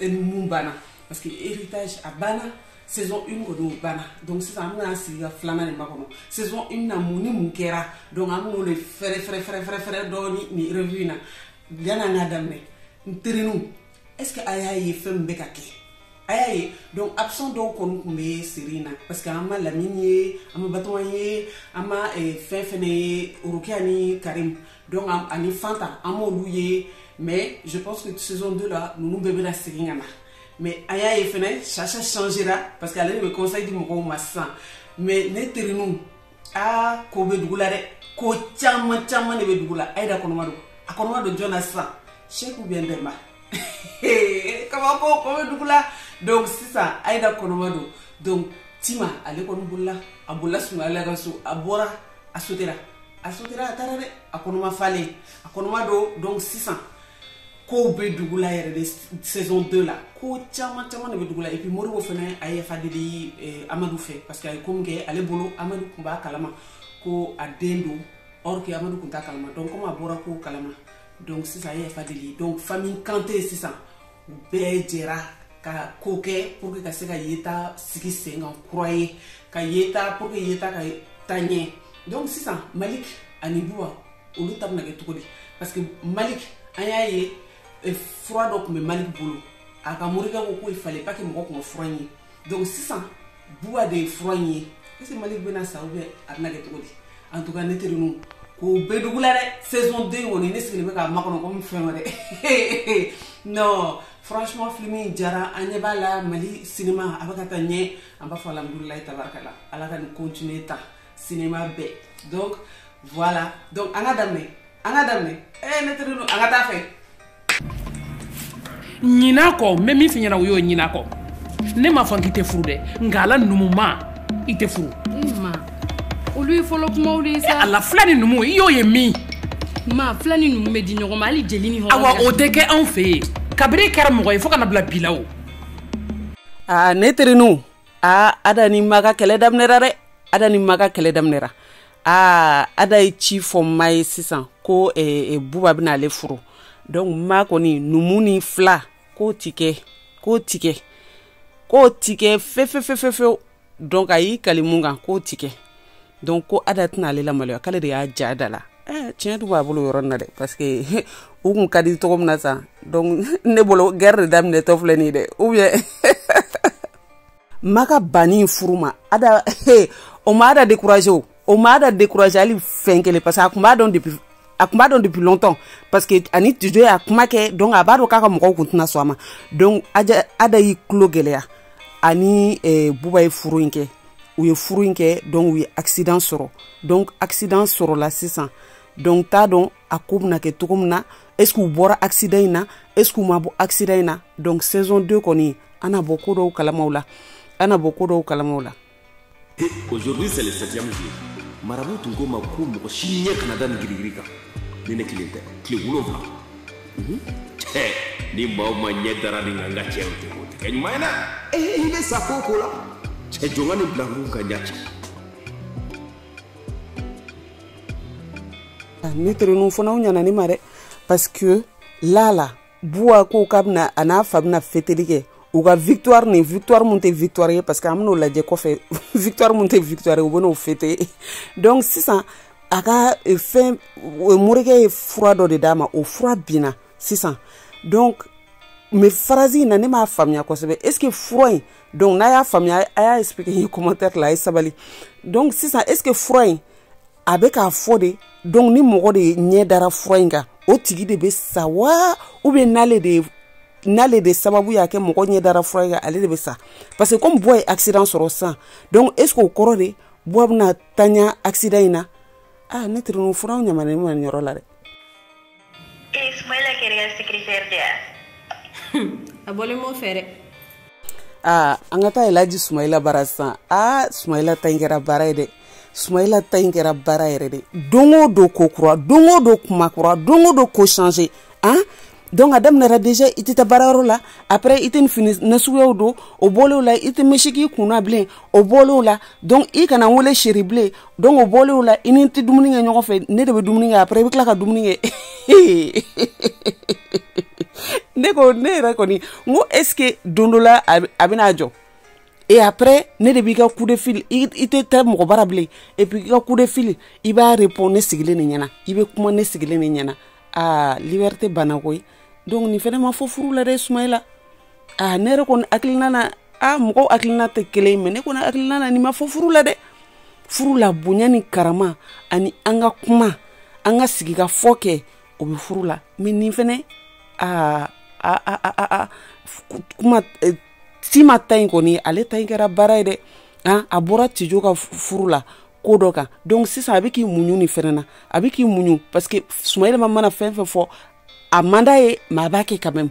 mun banna parce que héritage a banna saison un kɔni o banna donc sisan an bɛna sigi ka filanan de makɔnɔ saison un na mun ni mun kɛra donc an b'o de fɛrɛ fɛrɛ fɛrɛ fɛrɛ fɛrɛ dɔɔni nin revue in na yan'an k'a daminɛ n teriniw est ce que a y'a ye fɛn min bɛ ka kɛ a y'a ye donc absent dɔw kɔni tun bɛ seri in na parce que an ma lamini ye an ma batɔgɔn ye an ma fɛn fɛnɛ ye orokiya ni karim donc ani fanta an m'olu ye mais je pense que saison 2 la ninnu bɛɛ bɛna segin ka na mais an y'a ye fɛnɛ sasha changera parce que ale de bɛ conseil di mɔgɔw ma sisan mais ne terinu aa ko bɛ dugu la dɛ ko caman caman de bɛ dugu la ayida kɔnɔma don a kɔnɔma don jɔn na sisan cheick ou bien demba kabako ko bɛ dugu la donc sisan ayida kɔnɔma don donc tima ale kɔni bolila a bolila sumayila ka so a bɔra a sotera a sotera a taara dɛ a kɔnɔma falen a kɔnɔma don donc sisan kow bɛ dugu la yɛrɛ de saison 2 la ko caman caman de bɛ dugu la et puis modibo fɛnɛ a ye yafa deli eh, amadu fɛ parce que a ye ko min kɛ ale bolo amadu tun b'a kalama ko a den don or que amadu tun t'a kalama donc comme a bɔra ko kalama donc sisan a ye yafa deli donc famille kante sisan bɛɛ jɛra ka ko kɛ pour que ka se ka yeta sigi sen kan kura ye ka yeta pour que yeta ka taa ɲɛ donc sisan malik ani buwa olu ta bɛna kɛ cogo di parce que malik an y'a ye eh, fura dɔ tun bɛ malik bolo a ka morikɛ ko ko il fallait pas que mɔgɔ tun ka fura ye donc sisan buwa de ye fura in ye est ce que malik bɛna sa ou bien a bɛna kɛ cogo di en tout cas ne teri nu ko bɛ dugu la dɛ saison 2 kɔni ne sigilen bɛ k'a makɔnɔ komi fɛn wɛrɛ non franchement film in diyara an ɲɛ b'a la mali sinima a bɛ ka taa ɲɛ an b'a fɔ alhamdulilayi tabarakala ala k'an continuer ta sinima bɛɛ donc voilà donc an ka daminɛ an ka daminɛ ee ne teri nu an ka taa fɛ ɲina a kɔ n bɛ min f'i ɲɛna o ye ɲina a kɔ ne m'a fɔ k'i tɛ furu dɛ nka ala numu ma i tɛ furu olu ye fɔlɔ kumaw de ye sa ala fila ni numu i y'o ye min ma fila ni numu bɛ di ɲɔgɔn ma hali jeli ni hɔrɔn awa o tɛ kɛ anw fɛ yen kabiri e kɛra mɔgɔ ye fo ka na bila bi la o aa ne terinu aa ada ni ma ka kɛlɛ daminɛra dɛ ada ni ma ka kɛlɛ daminɛra aa ada ye ci fɔ ma ye sisan ko eh, eh, buba bɛna ale furu donc ma kɔni numu ni fila k'o ti kɛ k'o ti kɛ k'o ti kɛ fefefefefew donc a y'i kali mun kan k'o ti kɛ donc ko ada tɛna ale lamaloya k'ale de y'a ja da la eh, tiɲɛ tun b'a bolo yɔrɔ na dɛ parce que u kun ka di cogo min na sa donc ne bolo guerre de daminɛtɔ filɛ nin ye dɛ ou bien ma ka banni in furu ma ada o ma ada découragé o o ma ada découragé hali fɛn kelen parce que a kun b'a dɔn depuis a kun b'a dɔn depuis longtemps parce que a ni tijo y'a kuma kɛ donc a b'a dɔn k'a ka mɔgɔw kun tɛna sɔn a ma donc aja ada y'i tulo gɛlɛya a ni eh, buba ye furu in kɛ u ye furu in kɛ donc u ye accident sɔrɔ donc accident sɔrɔla sisan donc n t'a dɔn a ko bɛna kɛ cogo min na est ce que u bɔra accident in na est ce que u ma bɔ accident in na donc saison 2 kɔni an na bɔ ko dɔw kalama o la an na bɔ ko dɔw kalama o la aujourd'hui c'est le septième jour marabout tun ko n ma ko mɔgɔ si ɲɛ kana da nin girigiri kan ni ne kelen tɛ tile wolonfila mhm. ni maa o maa ɲɛ dara nin kan n ka cɛ o tɛ o tɛ kɛ ɲuman ye dɛ ee i bɛ sa ko o ko la cɛ jɔn ka nin bila kun ka ɲa cɛ ne tereninw fana u ɲana ne ma dɛ parce que là buwa ko k'a bɛna a n'a fa bɛna feteli kɛ u ka victoire ni victoire mun tɛ victoire ye parce que an bɛn'o lajɛ kɔfɛ victoire mun tɛ victoire ye u bɛn'o fêter donc sisan a ka eh, fɛn eh, morikɛ ye fura dɔ de d'a ma o fura binna sisan donc mais phrase in na ne m'a faamuya kosɛbɛ est ce que fura in donc n'a y'a faamuya a y'a expliquer n ye commentaire la a ye sabali donc sisan est ce que fura in a bɛ k'a fɔ de donc ni mɔgɔ de ɲɛ dara fura in kan o tigi de bɛ sa wa ou bien n'ale de n'ale de sababu y'a kɛ mɔgɔ ɲɛ dara fura in kan ale de bɛ sa parce que comme buwa ye accident sɔrɔ sisan donc est ce que o kɔrɔ de buwa bɛna tiɲɛ accident in na ah ne teriɲɔgɔn furaw ɲamana ne ma nin yɔrɔ la dɛ Et Ismaël a créé le secrétaire de A bolé mon frère. Ah, an ka taa elaji sumayila bara sisan aa sumayila ta in kɛra baara ye dɛ sumayila ta in kɛra baara ye dɛ don o don ko kura don o don kuma kura don o don ko changer donc a daminɛra déjà i tɛ taa baarayɔrɔ la après i tɛ nin fini nasuguyaw don o bɔlen o la i tɛ mèche k'i kunna bilen o bɔlen o la donc i kana n wele chéri bilen donc o bɔlen o la i ni n tɛ dumuni kɛ ɲɔgɔn fɛ ne de bɛ dumuni kɛ après i bɛ tila ka dumuni kɛ ne ko ne yɛrɛ kɔni n ko est ce que don dɔ la a bɛna jɔ et après ne de b'i ka coup de fil i tɛ taa mɔgɔ bara bilen et puis i ka coup de fil i b'a répondre ne sigilen de ɲɛna i bɛ kuma ne sigilen de ɲɛna aa liberté banna koyi donc nin fɛnɛ ma fɔ furu la dɛ sumayila aa ne yɛrɛ kɔni hakilina na a mɔgɔw hakilina tɛ kelen mais ne kɔni hakilina na nin ma fɔ furu la dɛ furu la bonya ni karama ani an ka kuma an ka sigi ka fɔ kɛ o bɛ furu la mais nin fɛnɛ aa a a a a kuma eh, tima ta in kɔni ale ta in kɛra baara ye dɛ an a bɔra tijo ka furu la ko dɔ kan donc sisan a bɛ k'i muɲu nin fɛnɛ na a bɛ k'i muɲu parce que sumayila mana fɛn fɛn fɔ a man d'a ye mais a b'a kɛ quand même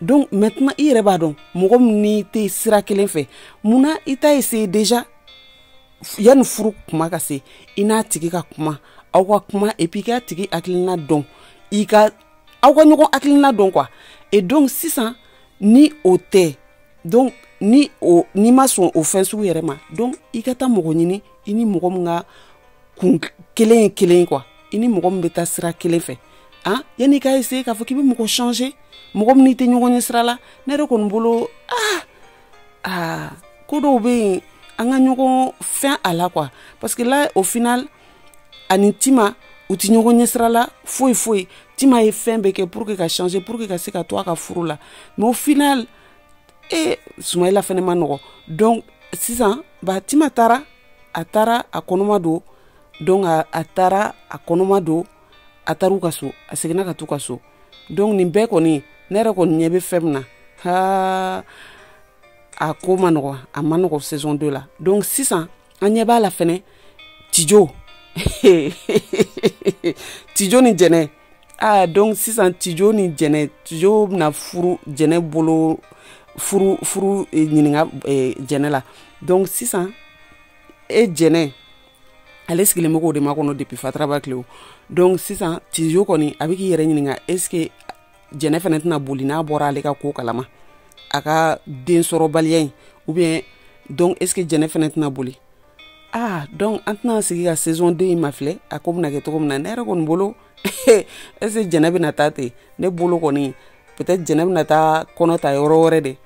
donc maintenant i yɛrɛ b'a dɔn mɔgɔ min n'i tɛ sira kelen fɛ mun na i t'a essayer déjà yanni furu kuma ka se i n'a tigi ka kuma aw ka kuma et puis i k'a tigi hakilina dɔn i ka aw ka ɲɔgɔn hakilina dɔn quoi e donc sisan ni o tɛ donc ni o n'i ma sɔn o fɛn sugu yɛrɛ ma donc i ka taa mɔgɔ ɲini i ni mɔgɔ min ka kun kelen ye kelen ye quoi i ni mɔgɔ min bɛ taa sira kelen fɛ ah yanni i ka essayer k'a fɔ k'i bɛ mɔgɔ changer mɔgɔ min n'i tɛ ɲɔgɔn ɲɛ sira la ne yɛrɛ kɔni bolo ah ah ko dɔw bɛ yen an ka ɲɔgɔn fɛn a la quoi parce que là au final a ni tima u tɛ ɲɔgɔn ɲɛ sira la foyi foyi tima ye fɛn bɛɛ kɛ pour que ka changer pour que ka se ka to a ka furu la mais au final e sumayila fɛnɛ ma nɔgɔ donc sisan ba tima taara a taara a kɔnɔma don donc a taara a kɔnɔma don a taar'u ka so a seginna ka t'u ka so donc nin bɛɛ kɔni ne yɛrɛ kɔni ɲɛ bɛ fɛn min na haa a ko ma nɔgɔ a ma nɔgɔ saison deux la donc sisan an ɲɛ b'a la fɛnɛ tijo tijo ni jɛnɛ ah donc sisan tijo ni jɛnɛ tijo bɛna furu jɛnɛ bolo furu furu eh, ɲininka eh, jɛnɛ la donc sisan e jɛnɛ ale sigilen bɛ k'o de makɔnɔ depuis fataraba tile donc sisan tijo kɔni a bɛ k'i yɛrɛ ɲininka est ce que jɛnɛ fana tɛna boli n'a bɔra ale ka ko kala ma a ka den sɔrɔbaliya in ou bien donc est ce que jɛnɛ fana tɛna boli ah donc an tɛna sigi ka saison 2 in mafilɛ a ko bɛna kɛ cogo min na ne yɛrɛ kɔni bolo est ce que jɛnɛ bɛna taa ten ne bolo kɔni peut être jɛnɛ bɛna taa kɔnɔ ta yɔrɔ wɛrɛ de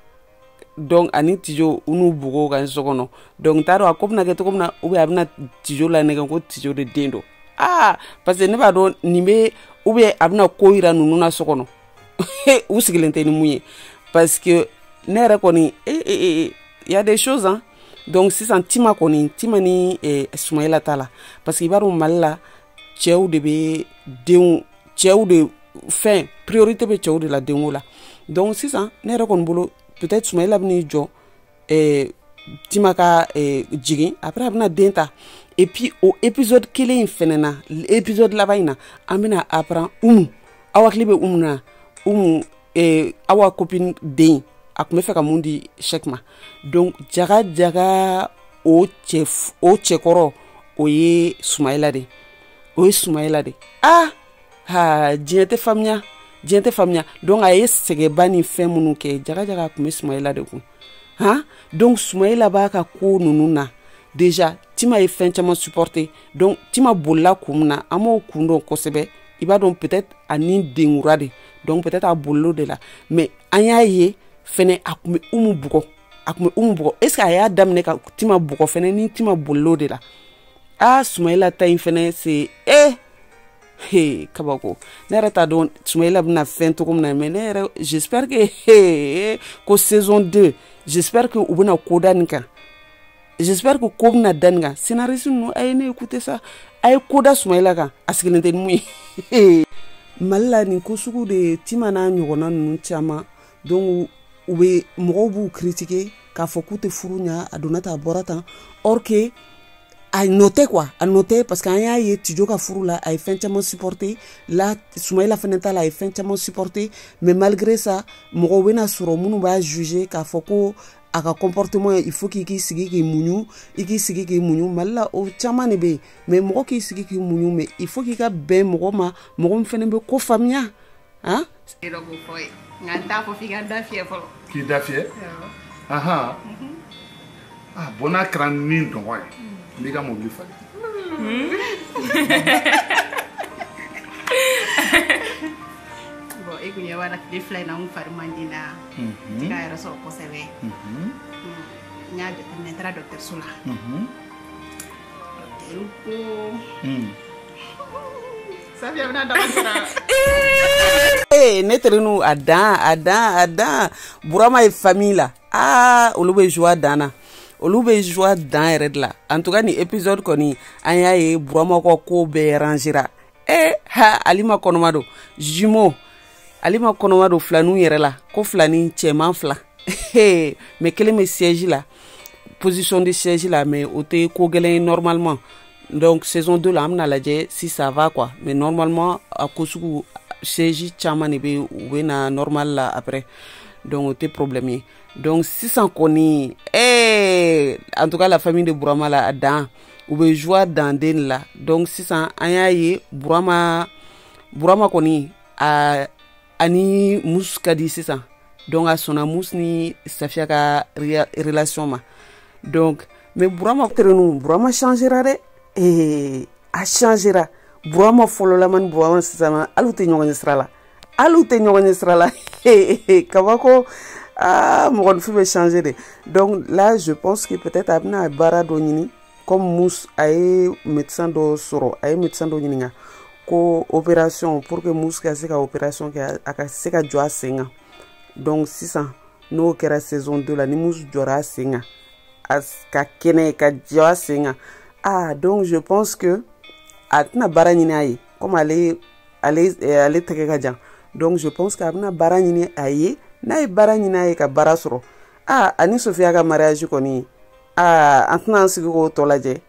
donc a ni tijo u n'u bugo kan so kɔnɔ donc n t'a dɔn a ko bɛna kɛ cogo min na ou bien a bɛna tijo lanɛgɛn ko tijo de den don aa parce que ne b'a dɔn nin bɛ ou bien a bɛna ko yira ninnu na so kɔnɔ u sigilen tɛ ni min ye parce que ne yɛrɛ kɔni e e e, e y a des choses hein donc sisan tima kɔni tima ni eh, sumayila ta la parce que i b'a dɔn mali la cɛw de bɛ denw cɛw de fɛn priorité bɛ cɛw de la denko la donc sisan ne yɛrɛ kɔni bolo peut-être sumayila bɛn'i jɔ eh, tima ka eh, jigin après a bɛna den ta et puis o épisode kelen in fɛnɛ na épisode laban in na an bɛna apprendre umu aw hakili bɛ umu na umu eh, awa copine den a tun b'a fɛ ka min di cheick ma donc jaga jaga o cɛ o cɛkɔrɔ o ye sumayila de ye o ye sumayila de ah ha diɲɛ tɛ faamuya diɲɛ tɛ faamuya donc a ye sɛgɛnba ni fɛn minnu kɛ jaga jaga a tun bɛ sumayila de kun han donc sumayila b'a ka ko ninnu na déjà tima ye fɛn caman supporter donc tima bolila kun min na an m'o kun dɔn kosɛbɛ i b'a dɔn peut-être ani denkura de donc peut-être a bolil'o de la mais an y'a ye fɛnɛ a tun bɛ umu bugɔ a tun bɛ umu bugɔ est ce que a y'a daminɛ ka tima bugɔ fɛnɛ ni tima bolil'o de la aa sumayila ta in fɛnɛ c'est e he kabako ne yɛrɛ t'a dɔn sumayila bɛna fɛn cogo min na mais ne yɛrɛ j'espère que he ko saison 2 j'espère que u bɛna ko da nin kan j'espère que ko bɛna da nin kan scénariste ninnu a ye ne écouter sa a ye ko da sumayila kan a sigilen tɛ ni mun ye mali la nin ko sugu de tima n'a ɲɔgɔnna ninnu caman donc u bɛ mɔgɔw b'u critiquer k'a fɔ k'u tɛ furu ɲa a donna tan a bɔra tan or que a nɔ tɛ quoi a nɔ tɛ parce que an y'a ye tijo ka furu la a ye fɛn caman supporter la sumayila fɛnɛ ta la a ye fɛn caman supporter mais malgré ça mɔgɔw bɛna sɔrɔ minnu b'a juger k'a fɔ ko a ka comportement il faut k'i k'i sigi k'i muɲu i k'i sigi k'i muɲu mali la o caman de bɛ yen mais mɔgɔ k'i sigi k'i muɲu mais il faut k'i ka bɛn mɔgɔ ma mɔgɔ min fɛnɛ bɛ ko faamuya han i dɔ b'o fɔ ye nka n t'a fɔ f'i ka da fiyɛ fɔlɔ k'i da fiyɛ ahan a bon n'a kɛra ne dungɔ ye n b'i ka mobili falen bon e kun ɲɛ b'a la tile fila in na n kun fari man di n na n tɛ ka yɛrɛ sɔrɔ kosɛbɛ n y'a jateminɛ n taara dɔkitɛriso la dɔkitɛriw ko ne terinu a dan a dan a dan burama ye famille la aa ah, olu bɛ joie dan na olu bɛ joie dan yɛrɛ de la en tout cas nin épisode kɔni an y'a ye burama ka ko bɛɛ rangera e eh, ha alima kɔnɔma don jumeau alima kɔnɔma don filaninw yɛrɛ la ko filanin cɛman fila mais kelen bɛ siège la position de siège la mais o tɛ ko gɛlɛn ye normalement donc saison 2 la an bɛn'a lajɛ si ça va quoi mais normalement a ko sugu siège caman de bɛ u bɛ na normal la après donc o tɛ problème ye donc sisan kɔni eh, en tout cas la famille de burama la a dan u bɛ joie dan den de la donc sisan an y'a ye burama burama kɔni a ani mus ka di sisan donc a sɔnna mus ni safiya ka relation ma donc mais burama terinu burama changera dɛ ee a changera burama fɔlɔlama ni burama sisan hali u tɛ ɲɔgɔn ye sira la hali u tɛ ɲɔgɔn ye sira la kabako aa mɔgɔninfin bɛ changer dɛ donc là je pense que peut-être a bɛna baara dɔ ɲini comme mus a ye médecin dɔ sɔrɔ a ye médecin dɔ ɲininka ko opération pour que mus ka se ka opération kɛ a ka se ka jɔ a sen kan donc sisan n'o kɛra saison deux la ni mus jɔra a sen kan a ka kɛnɛ ka jɔ a sen kan ah donc je pense que a tɛna baara ɲini a ye comme ale ale eh, ale tɛgɛ ka jan donc je pense que a bɛna baara ɲini a ye n'a ye baara ɲini a ye ka baara sɔrɔ aa ani sofiya ka mariage kɔni aa an tɛna an sigi k'o tɔ lajɛ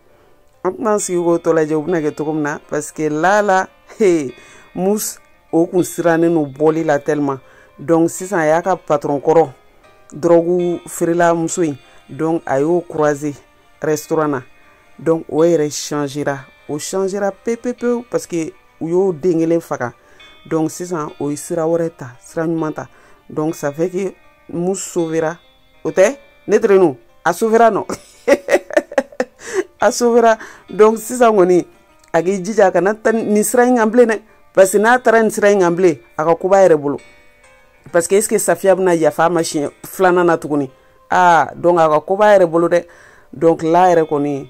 an tɛna an sigi k'o tɔ lajɛ u bɛna kɛ cogo min na parce que lala he mus o kun sirannen no bɔli la tellement donc sisan a y'a ka patron kɔrɔ dɔrɔgu feerela muso in donc a y'o croiser restaurant na donc o yɛrɛ changera o changera pepepewu parce que u y'o den kelen faga donc sisan o ye sira wɛrɛ ta sira ɲuman ta donc ça fait que mus sauvera o tɛ ne terenu a sauvera non a sauvera donc sisan kɔni a k'i jija a kana taa nin sira in kan bilen dɛ parce que n'a taara nin sira in kan bilen a ka ko b'a yɛrɛ bolo parce que est ce que safiya bɛna yafa a ma siɲɛ filanan na tuguni aa donc a ka ko b'a yɛrɛ bolo dɛ donc là yɛrɛ kɔni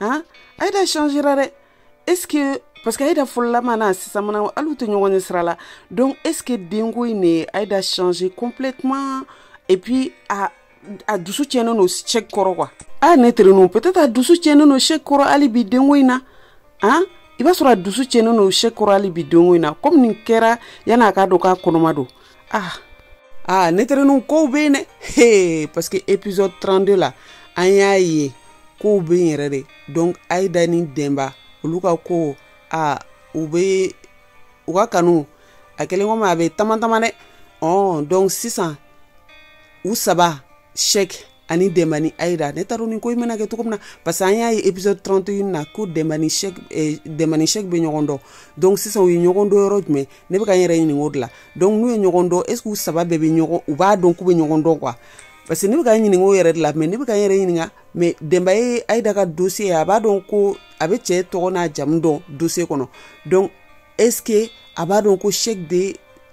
han ayida changera dɛ est ce que parce que ayida fɔlɔlama n'a sisannama hali u tɛ ɲɔgɔn ɲɛ sira la donc est ce que denko in de ayida changer complètement et puis a a dusu tiɲɛnen don shɛki kɔrɔ quoi a ne terenu peut être a dusu tiɲɛnen don shɛki kɔrɔ hali bi denko in na han i b'a sɔrɔ a dusu tiɲɛnen don shɛki kɔrɔ hali bi denko in na comme nin kɛra yan'a k'a dɔn k'a kɔnɔma don ah ah ne terenu kow bɛ yen dɛ hee parce que épisode 32 la an y'a ye kow bɛ yen yɛrɛ de donc ayida ni denba olu ka ko ah u bɛ u ka kanu a kɛlen komi a bɛ tamatama dɛ ɔn donc sisan u saba shɛki ani denba ni ayida ne t'a dɔn nin ko in bɛna kɛ cogo min na parce que an y'a ye épisode 31 na ko denba ni shɛki eh, denba ni shɛki bɛ ɲɔgɔn dɔn donc sisan u ye ɲɔgɔn dɔn yɔrɔ jumɛn ne bɛ ka n yɛrɛ ɲininka o de la donc n'u ye ɲɔgɔn dɔn est ce que u saba bɛɛ bɛ ɲɔgɔn u b'a dɔn k'u bɛ ɲɔgɔn dɔn quoi parce que ne bɛ ka n ɲininka o yɛrɛ de la mais ne bɛ ka n yɛrɛ ɲininka mais denba ye ayida ka dossier a b'a dɔn ko a bɛ cɛ tɔgɔ n'a jamu dɔn dossier kɔnɔ donc est ce que a b'a dɔn ko shɛki bɛ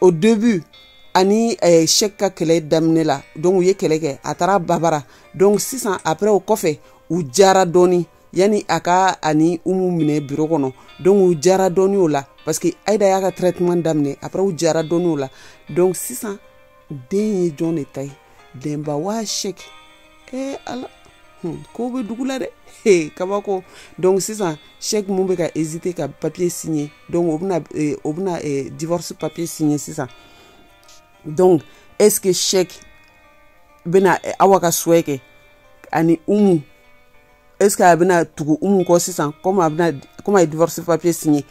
au début ani eh, shɛki ka kɛlɛ daminɛ la donc u ye kɛlɛ kɛ a taara babara donc sisan après o kɔfɛ u jara dɔɔni yani a ka ani umu minɛ biro kɔnɔ donc u jara dɔɔni o la parce que ayida y'a ka traitement daminɛ après u jara dɔɔni o la donc sisan den ye jɔn de ta ye denba waa shɛki ee ala hmm, ko bɛ dugu la dɛ hey, kabako donc sisan Cheick mun bɛ ka hésiter ka papier signer donc o bɛna eh, o bɛna eh, divorce papier signer sisan donc est ce que Cheick bɛna eh, awa ka souhait kɛ ani umu est ce que a bɛna tugu umu kɔ sisan comme a bɛna comme a ye divorce papier signer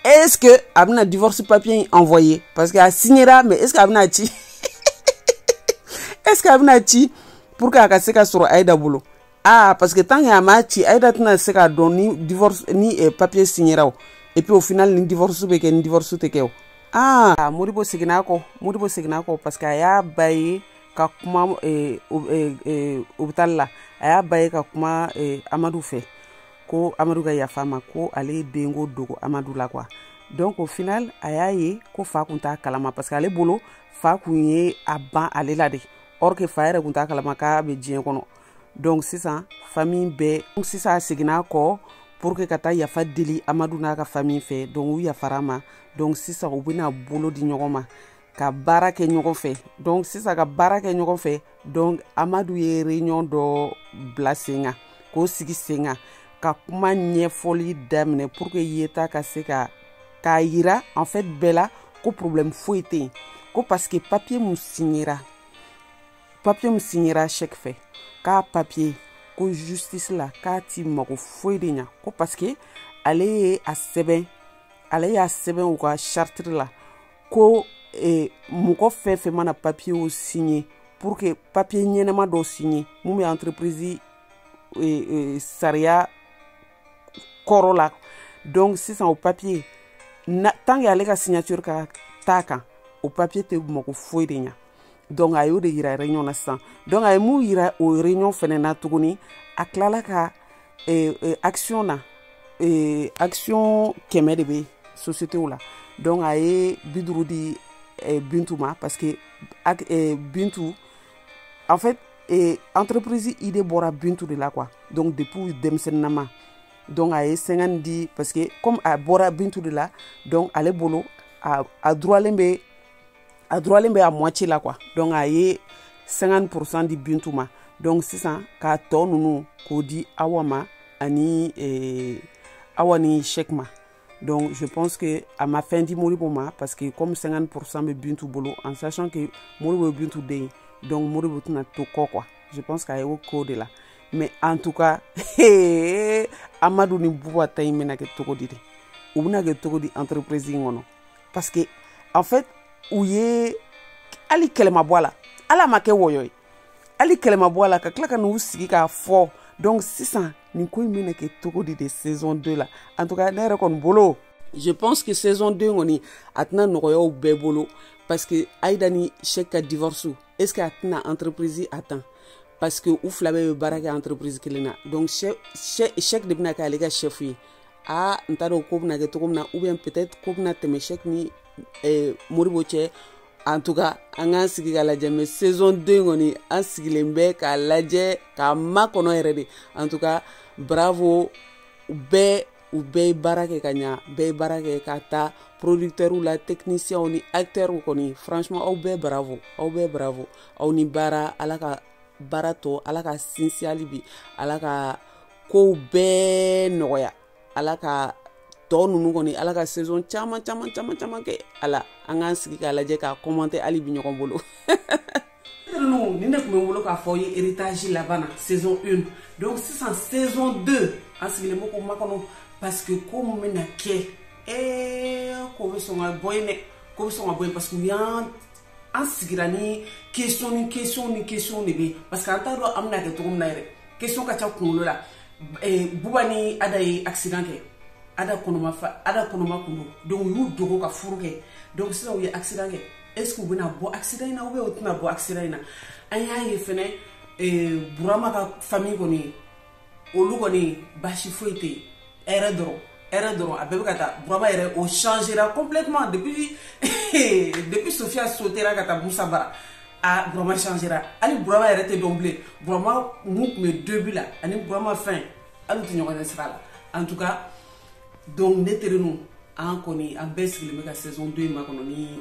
est-ce que a bɛna divorce papier in envoyer parce que a signera mais est-ce que a bɛna ci est-ce que a bɛna ci pour que a ka se ka sɔrɔ Aïda bolo ah parce que tant que a m'a ci Aïda tɛna se k'a dɔn ni divorce ni eh, papier signera o et puis au final ni divorce bɛ kɛ ni divorce tɛ kɛ o ah Modibo seginna a kɔ Modibo seginna a kɔ parce que a y'a ba ye ka kuma eh, eh, eh, hôpital la a y'a ba ye ka kuma eh, Amadu fɛ ko amadu ka yafa ma ko ale ye denko dogo amadu la quoi donc au final a y'a ye ko fa kun t'a kalama parce que ale bolo fa kun ye a ban ale la de or que fa yɛrɛ kun t'a kalama k'a bɛ diɲɛ kɔnɔ donc sisan famille bɛɛ donc sisan a seginna kɔ pour que ka taa yafa deli amadu n'a ka famille fɛ donc u yafara ma donc sisan u bɛna bolo di ɲɔgɔn ma ka baara kɛ ɲɔgɔn fɛ donc sisan ka baara kɛ ɲɔgɔn fɛ donc amadu ye réunion dɔ bila sen kan k'o sigi sen kan ka kuma ɲɛfɔli daminɛ pour que yeta ka se ka k'a yira en fait bɛɛ la ko problème foyi tɛ yen ko parce que papier mun signera papier mun signera Cheick fɛ k'a papier ko justice la k'a ti mago foyi de ɲa ko parce que ale ye a sɛbɛn ale y'a sɛbɛn u ka chartre la ko eh, mɔgɔ fɛn fɛn mana papier o signer pour que papier ɲɛnama dɔ signer mun bɛ entreprise eh, eh, sariya kɔrɔ la donc sisan o papier tant que ale ka signature ka t'a kan o papier tɛ mago foyi de ɲa donc a y'o de yira réunion na sisan donc a ye mun yira o réunion fɛnɛ na tuguni a tilala ka eh, eh, action na eh, action kɛmɛ de bɛ société la donc a ye bi duuru di eh, bintu ma parce que eh, bintu en fait eh, entreprise idée bɔra bintu de la quoi donc depuis denmisɛnninama donc a ye 50 di parce que comme a bɔra bintu de la donc ale bolo a, a droitlen bɛ a droitlen bɛ à moitié la quoi donc a ye 50 pourcent di bintu ma donc sisan k'a tɔ ninnu k'o di awa ma ani eh, awa ni Cheick ma donc je pense que a ma fɛn di Modibo ma parce que comme 50 pourcent bɛ bintu bolo en sachant que Modibo ye bintu den ye donc Modibo tɛna to kɔ quoi je pense k'a ye o k'o de la mais en tout cas amadu ni buba ta in bɛna kɛ cogo di de u bɛna kɛ cogo di entreprise in kɔnɔ parce que en fait u ye hali kɛlɛ ma bɔ a la ala m'a kɛ wɔyɔ ye hali kɛlɛ ma bɔ a la ka tila ka n'u sigi k'a fɔ donc sisan nin ko in bɛna kɛ cogo di de saison 2 la en tout cas ne yɛrɛ kɔni bolo je pense que saison 2 kɔni a tɛna nɔgɔya u bɛɛ bolo parce que aida ni cheick ka divorce est ce que a tɛna entreprise atteint parce que u fila bɛɛ bɛ baara kɛ entreprise kelen na donc cheick de bɛna kɛ ale ka chef ye aa n t'a dɔn ko bɛna kɛ cogo min na ou bien peut-être ko bɛna tɛmɛ cheick ni eh, modibo cɛ en tout cas an k'an sigi k'a lajɛ mais saison 2 kɔni an sigilen bɛ k'a lajɛ k'a makɔnɔ yɛrɛ de en tout cas bravo bɛɛ u bɛɛ ye baara kɛ ka ɲa bɛɛ ye baara kɛ k'a ta producteurw la technicienw ni acteurw kɔni franchement aw bɛɛ bravo aw bɛɛ bravo aw ni baara ala ka baara tɔ ala k'a sinsin hali bi ala ka kow bɛɛ nɔgɔya ala ka tɔ ninnu kɔni ala ka saison caman caman caman caman kɛ a la an k'an sigi k'a lajɛ k'a commenter hali bi ɲɔgɔn bolo ninnu nin de tun bɛ n bolo k'a fɔ aw ye héritage laban na saison 1 donc sisan saison 2 an sigilen bɛ k'o makɔnɔ parce que ko min bɛna kɛ ee ko bɛ sɔn ka bɔ yen dɛ ko bɛ sɔn ka bɔ yen parce que u y'an an sigira ni question ni question ni question de bɛ parce que an t'a dɔn an bɛna kɛ cogo min na yɛrɛ question ka ca kunkolo la eh, buba ni ada ye accident kɛ ada kɔnɔma fa ada kɔnɔma kun don donc u y'u dogo ka furu kɛ donc sisan u ye accident kɛ est ce que u bɛna bɔ accident in na ou bien u tɛna bɔ accident in na an y'a ye fɛnɛ eh, burama ka famille kɔni olu kɔni basi foyi tɛ yen hɛrɛ dɔrɔn hɛrɛ dɔrɔn a bɛɛ bɛ ka taa burama yɛrɛ o changera complètement depuis depuis sofiya sautera ka taa musa bara a burama changera hali burama yɛrɛ tɛ dɔn bilen burama min tun bɛ début la ani burama fin hali u tɛ ɲɔgɔn ɲɛ sira la en tout cas donc ne terenu an kɔni an bɛɛ sigilen bɛ ka saison 2 in makɔnɔ ni